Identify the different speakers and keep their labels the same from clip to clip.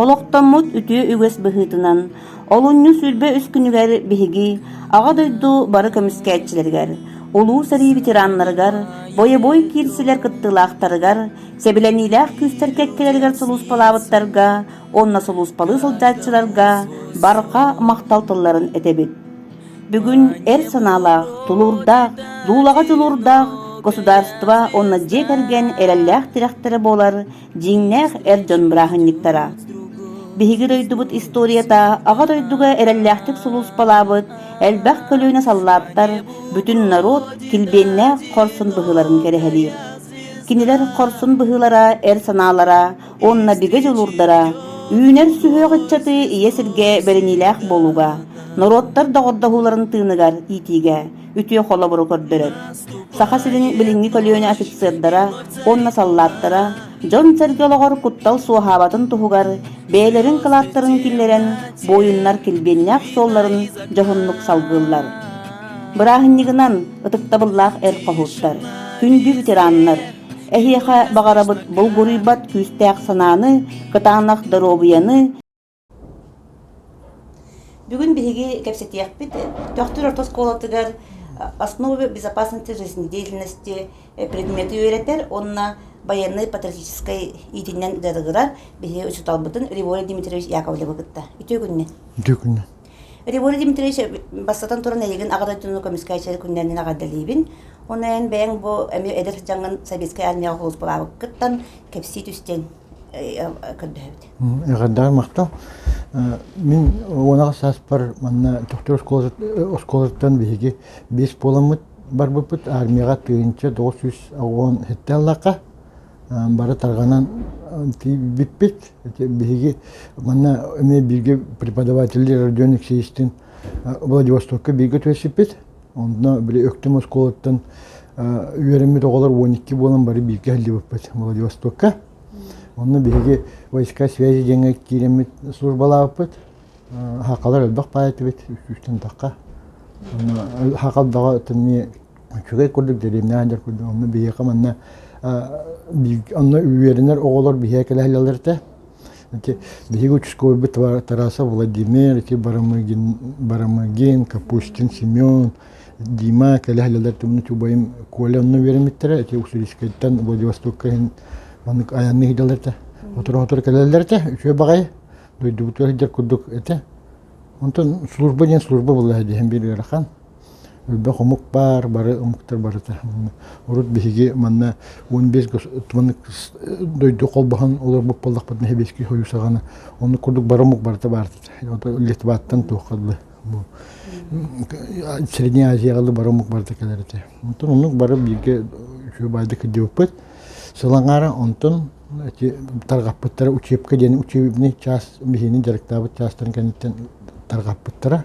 Speaker 1: Олохтоммут үтүө үгэс быһыытынан олунньу сүүрбэ үс күнүгэр биһиги Аҕа дойду бары көмүскээччилэригэр, улуу сэрии ветераннарыгар, бойобуой киирсилэр кыттыылаахтарыгар, сэбилэниилээх күүстэр кэккэлэригэр сулууспалаабыттарга уонна сулууспалыы сылдьааччыларга барҕа махтал тылларын этэбит. Бүгүн эр санаалаах, тулуурдаах, дуулаҕа дьулуурдаах государство уонна дьиэ кэргэн эрэллээх тирэхтэрэ буолар дьиҥнээх эр дьон бырааһынньыктара. Биһиги дойдубут историята Аҕа дойдуга эрэллээхтик сулууспалаабыт элбэх көлүөнэ саллааттар бүтүн норуот килбиэннээх хорсун быһыыларын кэрэһэлиир. Кинилэр хорсун быһыылара, эр санаалара Онно бигэ дьулурдара, үүнэр сүһүөх ыччатыы ийэ сиргэ бэриниилээх буолууга, норуоттар доҕордоһууларын тыыныгар иитиигэ үтүө холобуру көрдөрөр. Саха сирин билиҥҥи көлүөнэ офицердара уонна саллааттара дьон-сэргэ олоҕор куттал суоһаабатын туһугар бэйэлэрин кылааттарын киллэрэн буойуннар килбиэннээх суолларын дьоһуннук салгыыллар. Бырааһынньыгынан ытыктабыллаах эр хоһууттар, күндү ветераннар, Эһиэхэ баҕарабыт булгуруйбат күүстээх санааны, кытаанах доруобуйаны, Бүгүн биһиги кэпсэтиэхпит Төхтүр орто оскуолатыгар основы безопасности жизнедеятельности предмети үөрэтэр уонна байыаннай патриотическай иитинэн дьарыгырар биһиги учууталбытын Риволий Дмитриевич Яковлевы кытта. Үтүө күннэ. Үтүө күннэ. Револют Дмитриевич бастатан туран эйигин аҕа дойдуну көмүскээччи күннээнин аҕардалиибин. Ону эн бэйэҥ бу эмиэ эдэр дьаҥын Советскай армияҕа кулууппалаабыккыттан кэпсии түстүҥ көрдөһөбүт. Эҕэрдэҕэ махтал. Мин уонаҕа сааспар манна Тохтур оскуолаттан биһиги биэс буоламмыт барбыппыт армияҕа тыһыынча тоҕус сүүс оҕуон хеттэаллаахха бары тарҕанан бүппүт биһиги манна эмиэ бииргэ преподавателлэр Родион Алексеевичтыын Владивостокка бииргэ түһэрсиппит онно били Өктөм оскуолаттан үөрэммит оҕолор он икки буолан бары бииргэ иһиллибиппит Владивостокка онно биһиги войска связи диэҥҥэ киирэммит службалаабыппыт хакалар элбэх баай этибит сүүстэн тахха хакалдаҕа үчүгэй курдук дэриэбинэһин дьар курдук онно биһиэхэ манна онно үөрэнэр оҕолор биһиэхэ кэлэһэллэр этэ биһиги участковый Тарасов Владимир ити Барамыгин Барамыгин Капустин Семен Дима кэлэһэллэр тумну чубайым Коля онно үөрэммиттэрэ эти Усулискайтан Владивостокка иһин маннык айанны хидалар этэ отура-отура кэлэллэр этэ үчүө баҕайы дойдубутугар дьар курдук этэ онтон служба диэн служба булла диһэн бир ыарахан Өлбөх омук баар, бары омуктар барыта. Урут биһиги манна он бес туманнык дойду холбоһон олорбут боллахпытына сэбиэскэй союз аҕана онну курдук бары омук барыта баар Литваттан туохха дылы Средняя Азияҕа бары омук барыта кэлэр этэ. Онтон оннук бары бииргэ үчүгэй баайда кыддыыппыт. Сылаҥара онтон эти тарҕаппыттара учебка диэн учебный чаас биһиини дьарыктаабыт чаастан кэнниттэн тарҕаппыттара.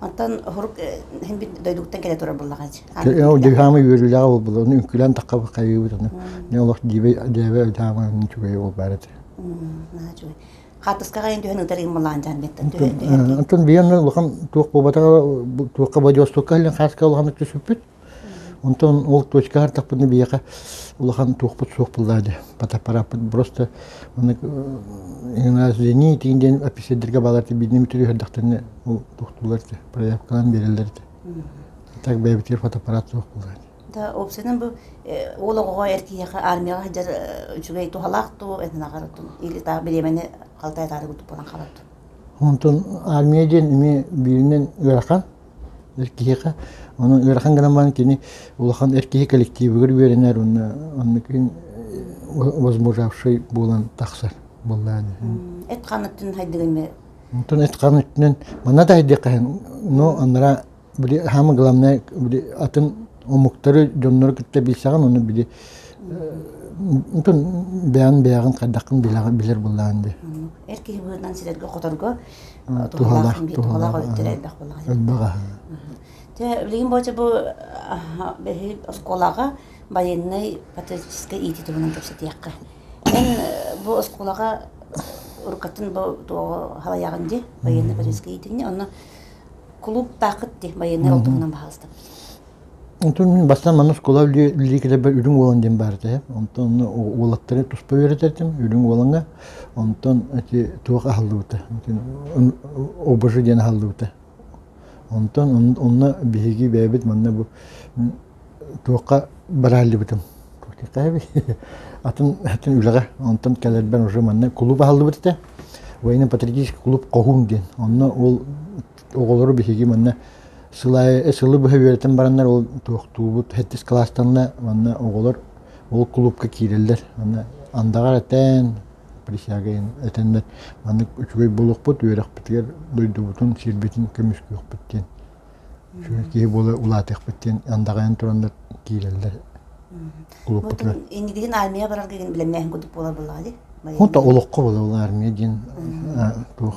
Speaker 1: Онтон оһурук иһин дойдугуттан кэлэ турар буллаҕа Ол дыһаама үөрүүлэҕэ булбулар, оны үҥкүлээн тахха хайыыбыт оны. Не олох диве дээбэ дыһаама үчүгэй ол баара тир. Үчүгэй. Хаатыскаҕа ин түһэн ытар ин малаан жан беттен түһэн. Антон биен улахан туох бобатаҕа туохка бодиостукка хааска улахан түспүт. Онтон ол точка ардахпытына биһиэхэ улахан туохпут суох буллаа дэ фотоаппарааппыт просто маннык извини тигин диэн офицердерге баалар билиним түрүһэрдахтарына ол тухтуулар те проявкалан береллер те так бэйбитигэр фотоаппарат суох буллаа да опсынан бу ол оҕоҕо эр киһиэхэ армияҕа сылдьар үчүгэй туһалаах ту этенаҕар ту или таа бириэмэни халтай таары кутуп болан хабат онтон армия диэн ими бииринен ыарахан Эр киһиэхэ онон ыарахан гынан баран кини улахан эр киһи коллективыгар үөрэнэр уонна оннукин возмужавший буолан тахсар буоллаан эт ханныттан хайдыгын Онтон этқан өттүнэн манна да айдықаһын но аннара били хаама главное били атын омуктары дьоннору кытта билсэҕин ону били онтон бэйан бэйэҕин хайдаххын билэр буллаан ди эр киһи быһынан силэргэ хоторго туһалаах туһалаах өттүр элбэх буолаҕа элбэх Те билигин боча бу бэһи оскуолаҕа байыннай патриотическай иити туһунан кэпсэтиэххэ. Мен бу оскуолаға уруккатын бу туоҕу халаяғын ди байыннай патриотическай иитиҥни онно клуб таақыт ди байыннай ол туһунан баһалыстабыт. Онтон бастаан манна оскуола үлэлии кэлэрбэр үрүҥ уолан диэн баар этэ. Онтон уолаттары туспа үөрэтэрим үрүҥ уолаҥа. Онтон эти туох аһыллыбыта, обожи диэн аһыллыбыта. Онтон онно биһиги бэйэбит манна бу туохха барааллыбытым. Атын атын үлэҕэ. Онтон кэлэрбэр уже манна кулууп аһыллыбыт этэ. Военно-патриотический кулууп Хоһуун диэн. Онно ол оҕолору биһиги манна сыл аайы сылы быһа үөрэтэн бараннар ол туохтуубут хэттис кылаастанна манна оҕолор ол кулуупка киирэллэр манна андаҕар этэн присяга этэннэр маннык үчүгэй буолуохпут үөрэхпитигэр дойдубутун сирбитин көмүскүөхпүт диэн киһи буола улаатыахпыт диэн андаҕайан тураннар киирэллэр кулууппутугар индигин армия барарга билемнээһин курдук буолар буоллаҕа ди олоххо буолар армия диэн туох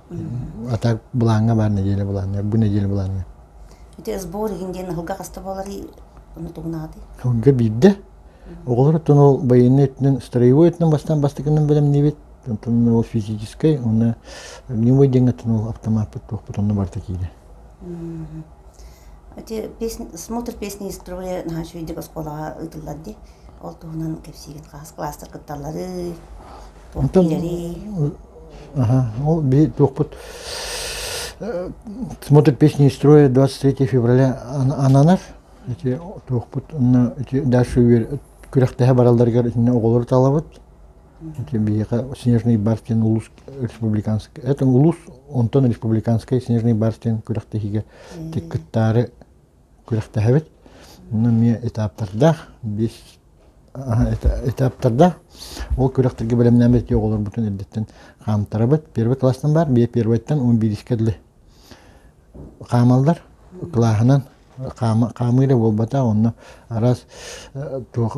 Speaker 1: А так былааҥҥа баар нэдиэлэ былааҥҥа, бу нэдиэлэ былааҥҥа. Ити СБУ иһин диэн ыһылга хаста буоларый ону тугунаатый? Ыһылга биирдэ. Оҕолор оттон ол байыаннай өттүнэн, строевой өттүнэн бастаан бастакынан бэлэмниибит. Онтон ол физическэй, онно огневой диэҥҥэттэн ол автомаппыт туохпут онно барта киирэ. Эти песни, смотр песни из строя наһаа үчүгэйдик оскуолаҕа ыытыллар дии. Ол туһунан кэпсиигин хаас кластар кытталлары, Онтон ол бии туохпут смотрит песни из строя 23 февраля ананар ити туохпут онно ити дальше үөр күрэхтэһэ баралларыгар итиннэ оҕолору талабыт ити биһиэхэ снежный бар диэн улуус республиканскай это улуус онтон республиканскай снежный бар диэн күрэхтэһиигэ кыттаары күрэхтэһэбит. Онно эмиэ этаптардаах, биир этаптардаах. Ол күрэхтэргэ бэлэмнээбит оҕолорбутун эрдэттэн хаамтарабыт. Первый класстан баар, бие первойтан он бирискэ длы хаамаллар. Клаһынан хаамыыра буолбата, онно араас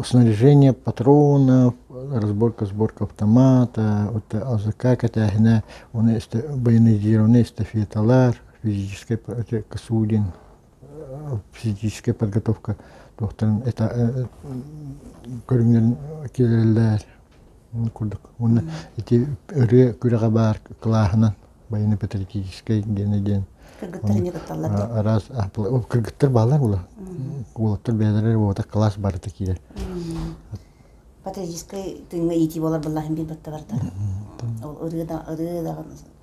Speaker 1: снаряжение патронов, разборка, сборка автомата, АЗК кэтээһинэ, оны боронизированные эстафеталар, физический косулин физическэй подготовка туохтарын это көрүҥнэрин киэрэллэр курдук уонна ити ырыа күрэҕэ баар кылааһынан байыны патриотическай диэни диэн араас кыргыттар баалар була уолаттар бэйэлэрэ уота кылаас барыта киирэр патриотическай тыыҥҥа иитии буолар быллаһын билбэттэ барыта ырыа да ырыа да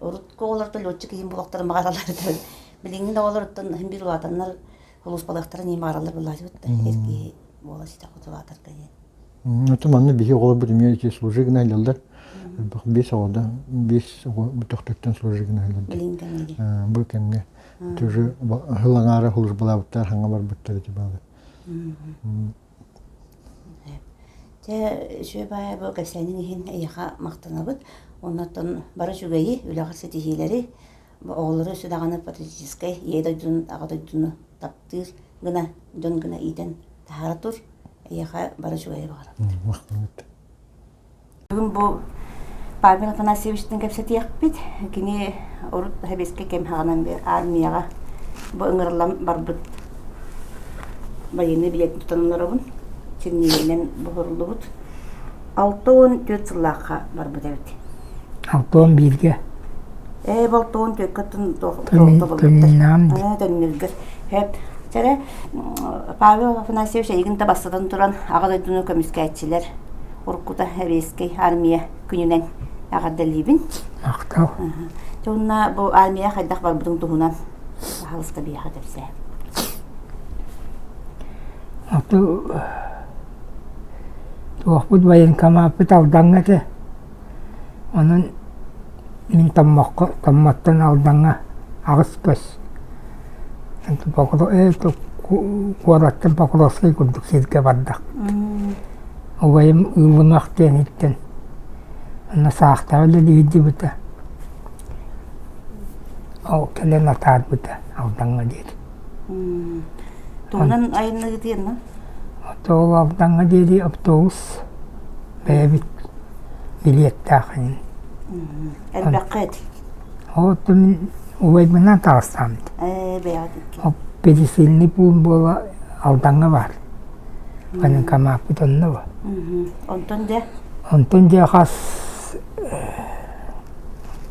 Speaker 1: урут оҕолортон летчик иһин булуохтарын баҕараллар билиҥҥин оҕолоруттан биир улаатаннар улууспалыахтара нии маараллар былаачыбыттар киһи буола ситэх утулаатарга диэн оту манна биһи оҕолор бүдүмүө ити служи гына илэллэр элбэх биэс оҕода биэс оҕо бүтөхтөртөн служи гына илэллэр бу кэмҥэ тоже хыл аҥаара службалаабыттар хаҥа барбыттар ити баалар Дьэ үчүгэй баайа бу кэпсээнин иһин эйиэхэ махтанабыт. Оннуттан бары үчүгэйи, үлэҕэ ситиһиилэри, оҕолору үсү даҕаны патриотическай Ийэ дойдуну, Аҕа дойдуну таптыыр гына, дьон гына иитэн таһаара тур. Эйиэхэ бары үчүгэйи баҕарабыт. Махтанабыт. бу Павел Афанасьевичтыын кэпсэтиэхпит. Кини урут сэбиэскэй кэм хаҕынан армияҕа бу ыҥырыллан барбыт военный билет тутан олоробун. Синньигэйинэн буһуруллубут. Алта уон түөрт сыллаахха барбыт эбит. Алта уон бииргэ? Ээ, алта уон түөрткэ тоннилга. Төннүлгэр. Төннүлгэр. Сэрэ Павел Афанасьевич эйигин да бастатан туран Аҕа дойдуну көмүскээччилэр уруккута Еврейскай армия күнүнэн эҕэрдэлиибин. Ахтал. Туонна бу армия хайдах барбытын туһунан хаһалыска биһиэхэ кэпсээ. Оту туохпут военкомаппыт алдаҥҥа те Онон мин Томмоххо Томмоттон Алдаҥҥа аҕыс көс куораттан Покровскай курдук сиргэ бардахпыт. Убайым Ылынах диэниттэн онно саахтаҕа үлэлиһиллибитэ, ол кэлэн атаарбыта Алдаҥҥа диэри. Туһунан айанныгытыйанна? Тоол Алдаҥҥа диэри автобус бэйэбит билиэттээх эҥин. Элбэххэ эти? От мин убайбынан таҕыстаамыт. Ээ, бэйэҕит икки. Пересильный пуун буола Алдаҥҥа баар. Каныкамааппыт онно ба. Онтон дьэ? Онтон дьэ хас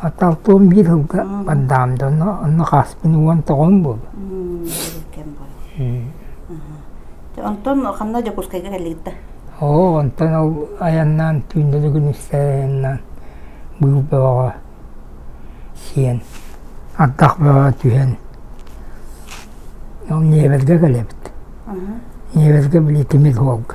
Speaker 1: Аталпым биир сылга бардаам да онно онно хааспын уон тоҕон буолла Онтон ханна Дьокуускайга кэллигит да? Оо онтон ол айаннаан түүннэ Дьөгүрүнүксэй айаннаан быыл бөҕөҕө сиэн ардах бөҕө түһэн ол Ньиэбэргэ кэлэбит Ньиэбэргэ били тимир суолга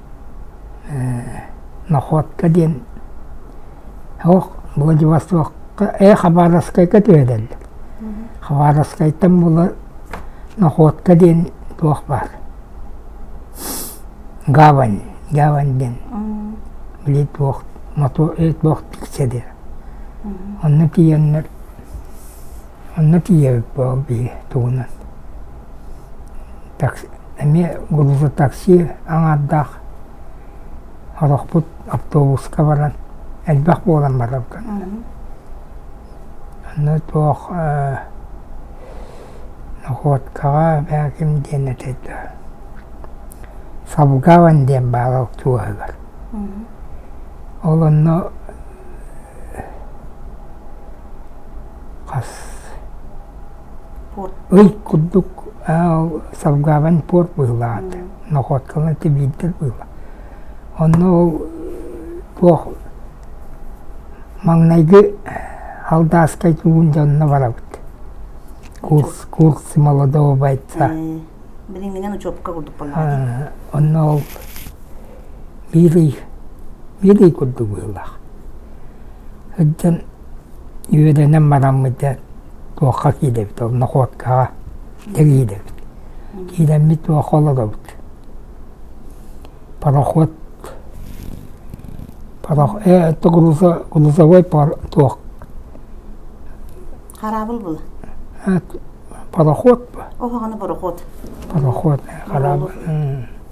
Speaker 1: Находка диэн оһох Владивостокка ээ Хабаровскайга түһэрэллэр. Хабаровскайтан булар Находка диэн туох баар. Гавань, гавань диэн. Били туох мотор туох тиксэдэр. Онно тиийэннэр Онно тиийэбит бу биһи тугунан. Такси эмиэ грузо такси аҥаардаах сорохпут автобуска баран элбэх буолан барабын. Аны туох э, находкаҕа бээ ким диэн этэйдэ. Савгаван диэн баалал туоһыгар. Ол онно Ил курдук салгаабан пуорт быһыылаах этэ, Находканы тибиирдэр быыла. Онно ол туох маҥнайгы Алтааскай туугун дьонно барабыт. Курс, курсы молодого бойца. Билиҥҥинэн учуопка курдук буолла. Онно ол Биилий, биилий курдук быһыылаах. Сылдьан үөлэнэн бараммыт дьэ туохха киирдэбит, ол находкаҕа киирдэбит. Киирэммит туохха олоробут. Пароход, парох, э, это грузо, грузовой пар, туох, Хараабыл була. э, пароход, ба, Оһоҕону бороход. пароход, э, хараабыл. м.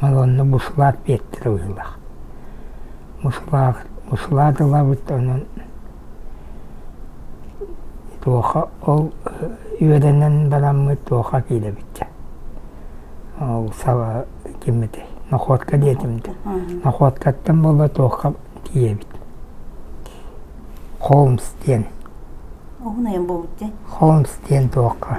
Speaker 1: Уонна буслаат биэртэрэ быһыылаах. Буслаат, буслаат ылабыт онон туоха ол үөдэнэн бараммыт туоха киирэбит ол саба ким этэй находка диэтим да находкаттан буола туохха тиийэбит холмс диэн холмс диэн туохха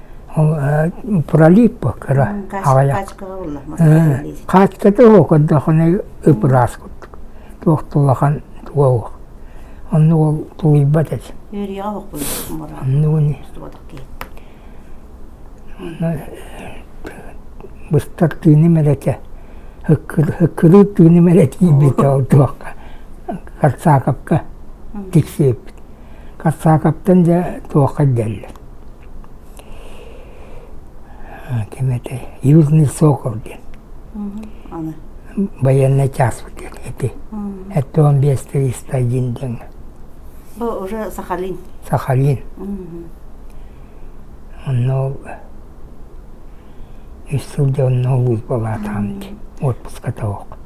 Speaker 1: ол пролиппа кыра аҕыйах хаачката суох көрдөххүнэ ып-ыраас курдук туох тулахан туга суох онно ол тулуйбат этим быстар тыыным эрэтэ һыккырыыр тыыным эрэ тиийбитэ ол туохха корсаковка тиксиэппит Карсаковтан дьэ туохха ирдэллэр ким этэй Южный Сокол диэн военный часпыт диэн эти это он бес триста один дэҥэ Был уже Сахалин. Сахалин. Онно үс сыл дьэ онно улуус буолаатаам ди отпуска того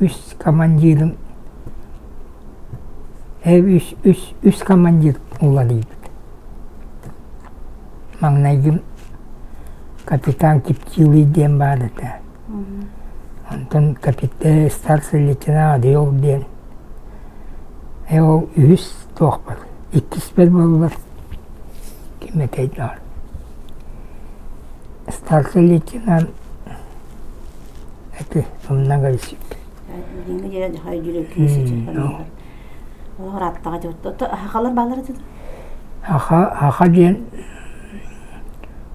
Speaker 1: үс командирым үс үс үс командир уларыйбыт маҥнайгы капитан киптилый диэн баар этэ онтон капитан старший лейтенант адьёк диэн ээ ол үһүс туохпут иккиспит буоллулар ким этэй доор старший лейтенант Эти онно кэбисик Аха аха диэн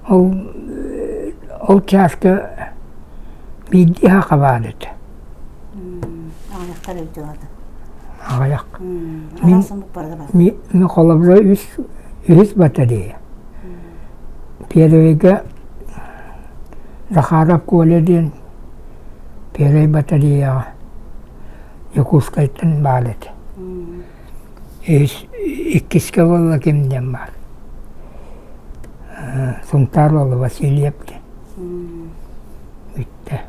Speaker 1: ол ол чааска биирдии аха баар этэ аҕыйах ми холобура үс үһүс батарея первыйга Захаров Коля диэн первый батареяҕа Якутскайтан баал этэ. Иккискэ буолла ким диэн баар. Сунтаар уолу Васильев диэн. Бүттэ.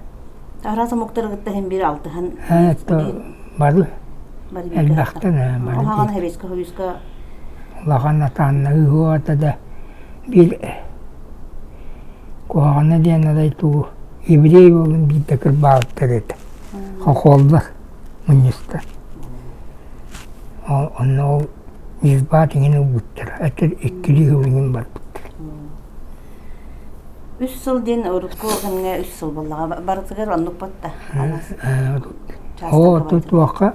Speaker 1: Араас омуктары кытта һин биир алтыһан. Һэ, бары. Элбэхтэн бары. Улахан хабиска хабиска. Улахан атаанна ыһыата да биир куһаҕана диэн арай туу еврей уолун биирдэ кырбаабыттар этэ хохоллор мунньустар онно ол ньырбаат иҥин ылбыттара атын иккилии сыл иҥин барбыттар үс сыл диэн урукку кэмҥэ үс сыл буоллаҕа барытыгар оннукпут да хоо туохха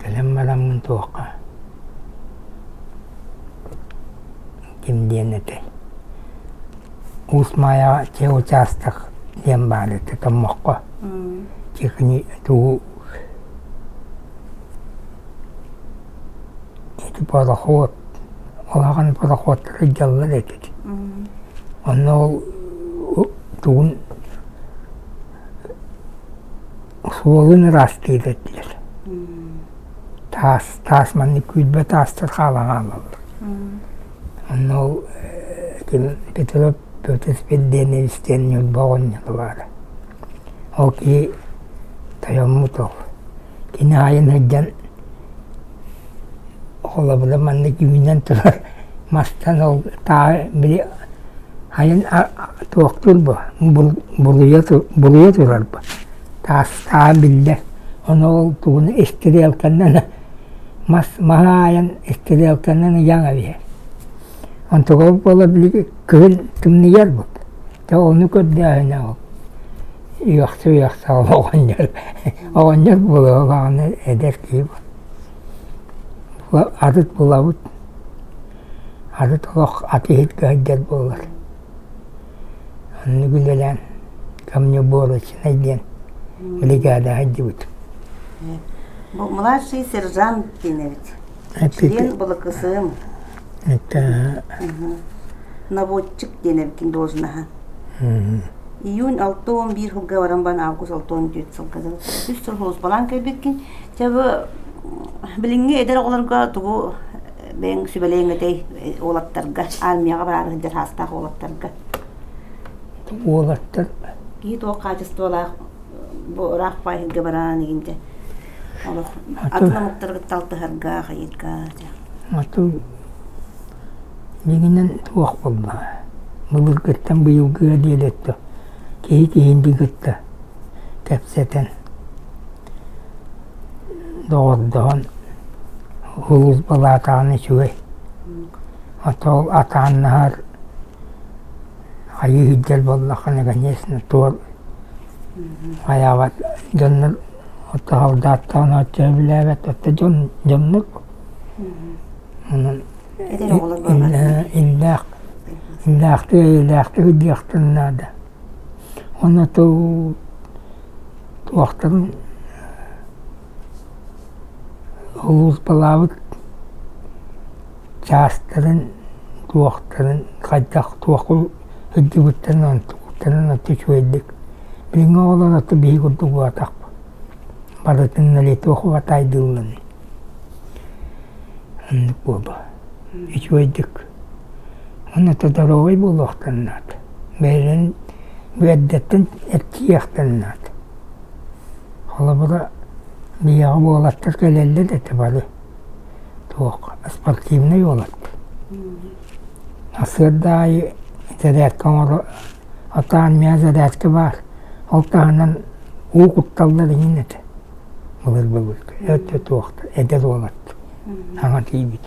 Speaker 1: Кэлэн бараммын туохха ким диэн этэй Уус Маайаҕа чэ учаастак диэн баар этэ Томмоххо чихни тугу ити пароход улахан пароходтар дьаллар этит онно ол тугун Суолун ыраастыыр этилэр. Таас, таас маннык күүрбэ таастар хаалан хаалаллар. Онно ол ким Петров Петр Перденевич диэн ньурба оҕонньоро баара. Ол киһи тойоммут ол. Кини аайын сылдьан холобура маннык үүнэн турар мастан ол тааһы били хайын туохтуур бу булуйа булуйа турар бу таас тааһа биллэр ону ол тугун истириэлкэнэн мас маһы аайан истириэлкэнэн ыйаҥ эбиһэр онтуга буола били кыһын тымныйар бут дьэ ону көрдөөһүнэ ол үөхсэ үөхсэҕин оҕонньор оҕонньор буолуо даҕаны эдэр киһи атыт булабыт атыт олох атыыһытка сылдьар буолар оннук үлэлээн камнеборочнай диэн бригаада сылдьыбыт младший сержант киинэбит член былакысыым наводчик диэн эбитин должноһа июнь алта уон биир сылга баран баран август алта уон дүөт сылга дылы үс сыл сулууспалаан кэлбиккин чабы билиҥҥи эдэр оҕолорго тугу бэйэҥ сүбэлэйиҥ этэй уолаттарга армияҕа бараары сылдьар саастаах уолаттарга уолаттар киһи туох хаачыстыбалаах бу ыраах паайсырга бараан игинде олох атын омуктарга алтыһарга хайыырга атын дигинен туох болла былыргыттан быйылгы диэли өттө киһи киһинди кытта кэпсэтэн доҕордоһон улуус балаатаҕын үчүгэй отол атааннаһар хайы иһирдэр боллаххына конечно туор Айаабат дьоннор отто хавдааттаан оччо эбилээбэт, отто дьон дьоннор онон иллээх иллээхтик эйэлээхтик диэхтэрин наада. Уонна тыл туохтарын Улууспалаабыт чаастарын, туохтарын, хайдах, туохха сылдьыбыттарын, онтукуттарын отто үчүгэйдик билиҥҥи оҕолор отто биһиги курдук убатахпыт. Барытын на лето хватаайдыыллан оннук буолуо. Үчүгэйдик. Онно отто доруобай буолуохтан наада. Бэйэлэрин бүөрдэртэн эрчийиэхтэн наада. Холобура, миэхэ уолаттар кэлэллэр этэ бары. Туох, спортивнай уолаттар. Сырда аайы зарядка оҥоро, атаан миэхэ зарядка баар. Ол таһынан уу кутталлар иһин этэ. Былыр былыргы. Өттө туохта, эдэр уолаттар. Саҥа тиийбит.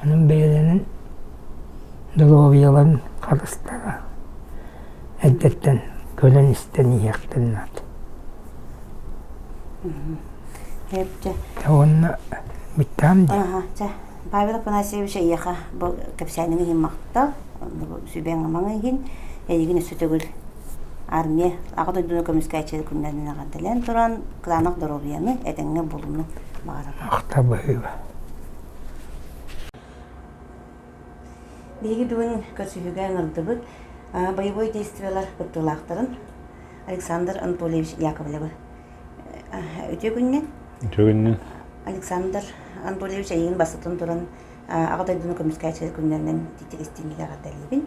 Speaker 1: Онон бэйэлэрин доруобуйаларын харыстара. эрдэттэн көрөн-истэн иһиэхтэрин наада. Уонна бүттаам дии. Павел Афанасьевич эйиэхэ бу кэпсээниҥ иһин махтал. Сүбэҥ амаҥы иһин. Эйигин өссө төгүл армия аҕа дойдуну көмүскээччи күннэринэн аҕардалан туран кылаанах доруобуйаны этэҥҥэ булуну баҕарабын. Махтал быһыыба. Биһиги бүгүн көрсүһүүгэ ыҥырдыбыт боевой действиелар кыттыылаахтарын Александр Анатольевич Яковлевы. Үтүө күннүн. Үтүө күннүн. Александр Анатольевич эйигин бастатан туран Аҕа дойдуну көмүскээччилэр күннэринэн тиктиристиимигэр эрдэлиибин.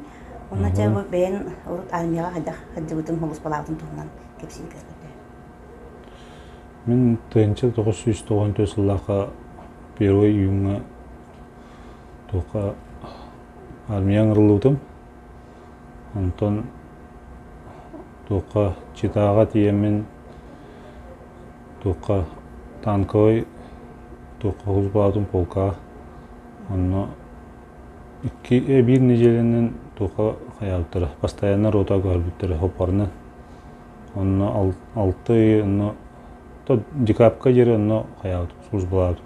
Speaker 1: Онно бу бэйэн урут армияҕа хайдах сылдьыбытын холуспалаабытын туһунан кэпсии көрдө. Мин тыйынча 994 сыллаахха первый июҥҥа Туохха армияҥ ыллыбытым. Онтон туохха читааҕа тиийэммин туохха танковай туохха уулуссабытын полка онно икки биир нэдиэлэнэн туохха хайаабыттара постоянно ротаға барбыттара хоппарынан онно алты ый онно то декабрьга диэри онно хайаабыт службалаабытым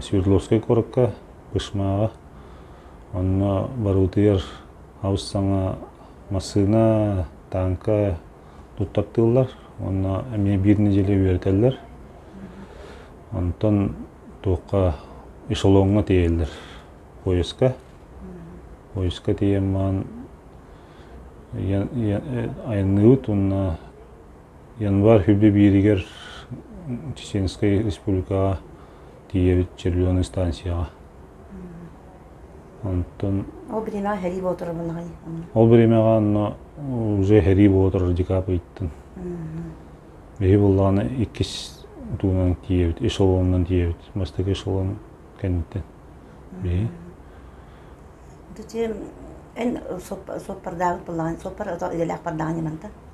Speaker 1: Свердловскай куоракка, Бышмаҕа, онно барыбытыгар хабыс саҥа массыына, тааҥка туттартыыллар. Онно эмиэ биир нэдиэлэ үөрэтэллэр. Онтон туохха эшелоҥҥа тиэйэллэр поезка. Поезка тиийэн маан айанныыбыт уонна Январь үрдэ бииригэр Чеченскай Республикаҕа тиийэбит Черлены станцияҕа. Онтон Ол времеҕа сэрии боотур муннаҕай. ол времеҕа онно уже сэрии боотур радикап ыйыттын. Биһи буллаҕына иккис туунан тиийэбит, эшелонунан тиийэбит. Бастакы эшелон кэнниттэн. Биһи Ити эн соппардаабыт буллаҕын, соппар ото идэлээх бардаҕын манта.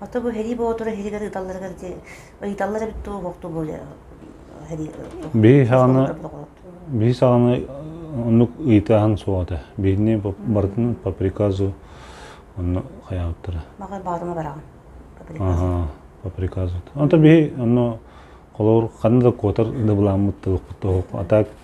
Speaker 1: Ата бу Һэрии Боотура иһигэр ыыталларыгар диэн ыйыталлар эбит туох уохту буолуо Һэрии Бии саҕана бии саҕана оннук ыйытааһын суох этэ. Биирни бартын по приказу онно хайаабыттара. Мага баатыма бараҕын. Ага, по приказу. Онто бии онно холор ханна да куотар дыбыламмыт тылыкпыт тоһук. А так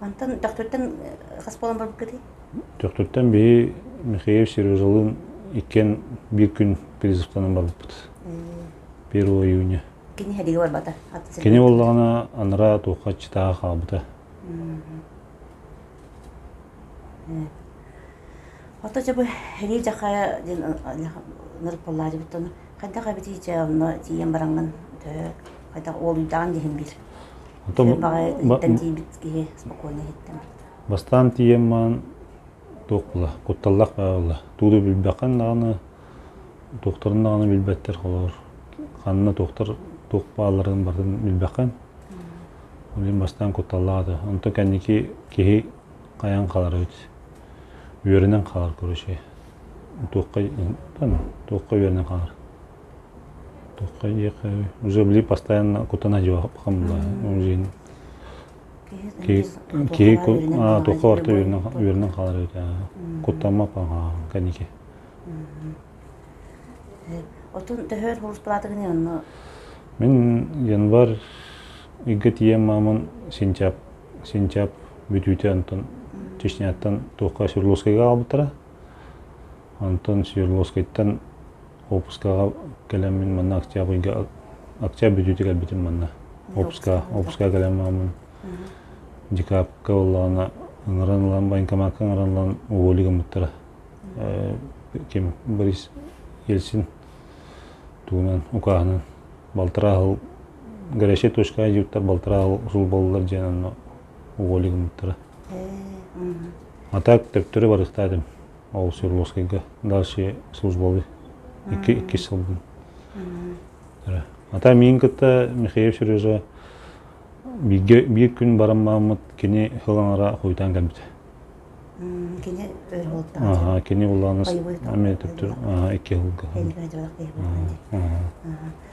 Speaker 1: Мантан Төхтүртэн хас буолан барбыккытый? Төхтүртэн биһи Михаил Сережалыын иккиэн биир күн призывтанан барбыппыт. Первого июня. Кини эдигэ барбата. Кини буоллаҕына анараа туохха читаҕа хаалбыта. Ото жабы хери жаха диэн нырпаллаажыбыт оны Хайдах эбитий дьэ онно тиийэн бараҥҥын төһө хайдах уолуйдаҕын диһин биир. Оттон баҕайытыттан тиийбит киһи спокойно иһиттим. Бастаан тиийэн маан туох була, кутталлах баабылла. Тууду билбэххин даҕаны, туохтарын даҕаны билбэттэр холоор. Ханна туохтар туох бааларын барын билбэххин. Олин бастаан кутталлаата. Онто кэнники киһи хайан халар үт. Үөрүнэн халар көрүші. туохха туохха үөрэнэ хаалар туохха эйиэхэ уже били постоянно кутана дьуохам киһи туохха барта үөрэнэн хаалар эбит куттаммат кэники отун төһөр хурустулаатыгын онно мин январь ыгга тиийэн маамын сентябрь сентябрь бүтүүтэ онтон Чечняттан туохха Свердловскайга аҕалбыттара. Онтон Свердловскайтан опускаҕа кэлэммин манна Октябрьга Октябрь бүтүүтэ кэлбитим манна. Опускаҕа опускаҕа кэлэн мааммын декабрьга буоллаҕына ыҥыран ылан военкоматка ыҥыран ылан уволі гыммыттара. Ким Борис Ельцин туунан укааһынан балтараа хыл горячая точка диюттар балтараа хыл усул боллулар диэн онно уволик мыттара а так төптөрө барыктаатым ол свердловскайга дальше службалы икки иккис сылбын а так миин кытта михаил сережа бииргэ биир күн баран мааммыт кини хылаҥара хуйтаан кэлбитэ кини аха кини улааныс аме төптөр аха икки хылга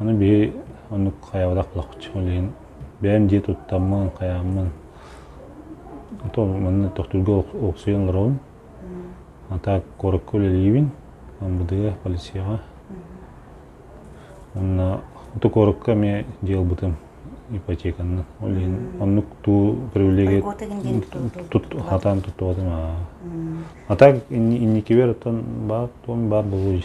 Speaker 1: Аны биһи оннук хайабадах булахпыт, ол иһин бэйэм дьиэ туттаммын, хайааммын, то манна тохтуурга олохсуйан олоробун. А так куоракка үлэлиибин, МБД, полицияҕа. Уонна ото куоракка эмиэ дьиэ ылбытым ипотеканнан. Ол иһин оннук туу привилегия хатаан туттубатым аа. А так инникибэр оттон баар туом баар болуй.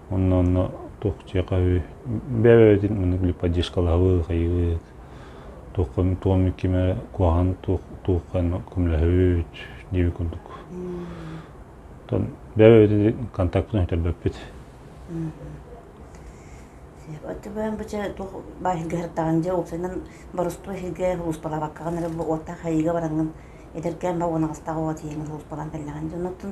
Speaker 1: Онно онно туох дьиэхаһыы бэйэбитин мунук липодишкалаһыбыт хайыыбыт туохха туоммут кимэ куһаҕан туох туохха көмөлөһүбүт диэбит курдук Тон бэйэбитин контактпытын өтөрбөппүт Оттубан бача туох баайга хартаҕан дьэ уопсайынан боростуо сиргэ улууспалабаккаҕын эрэ уоттаах хайыыга бараҥын эдэркээн ба уонагастаах уот иһин улууспалаан тэллэҕин дьонуттун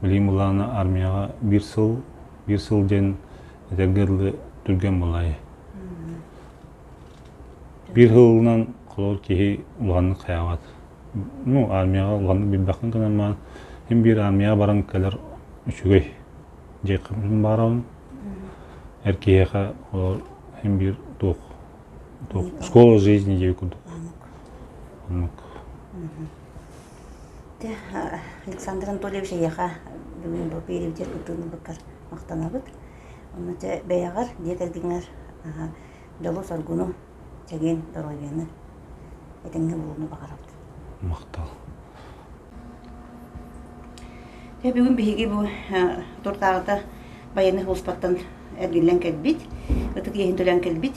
Speaker 1: Билим булаана армияга бир сыл бир сыл ден этэргэ дылы түргэн булай. Бир сылынан холор киһи уланнык хаягат. Ну, армияга уланнык билбэккин гынан ин бир армияга баран кэлер үчүгэй. Жекким барабын. Эр киһиэхэ олор ин бир туох туох школа жизни дей курдук. Оннук. Дэ, Александр Анатольевич эйиэхэ бүгүн бу переведет ытыын ылбыккар махтанабыт. Онно чэ бэйэҕэр, дьиэ кэргэҥэр аһа, дьолу-соргуну, чэгиэн доруобуйаны, этэҥҥэ буолууну баҕарабыт. Махтал. Дьэ бүгүн биһиги бу э, туртааҕыта байыаннай сулууспаттан эргиллэн кэлбит, ытык иэһин төлөөн кэлбит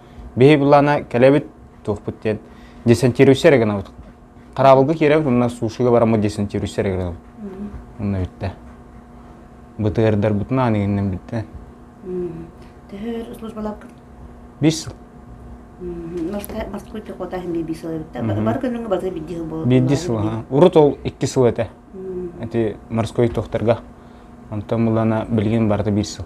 Speaker 1: биһи былаана кэлэбит туохпут диэн десантируйса эрэ гынабыт хараабылга киирэбит уонна сушига бараммыт десантируйса эрэ гынабыт уонна бүттэ бытыардарбытын аан игиннен бүттэ төһөр службаларгын бис сыл Москвы куота химии би сыл эбитте. Бар күнүңө баты бидди сыл болот. Бидди сыл ха. Урут ол икки сыл этэ. Эти морской тохтарга. Онтон мулана билген барыта бир сыл.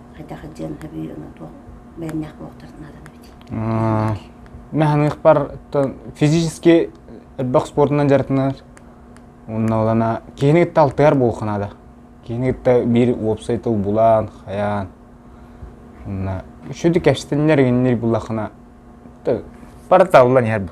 Speaker 1: хайдах дьиэм сөбүй ону туох бээннээх буолуохтарын наадана эбитий наһаныахпар физически элбэх спордунан дьарытынар уонна олана киһини кытта алтыар буолуха наада киһини кытта биир уопсай тыл булан хайаан уонна үшүдү кэпсэтиннэр игиннир булахына порталлан иһэр бу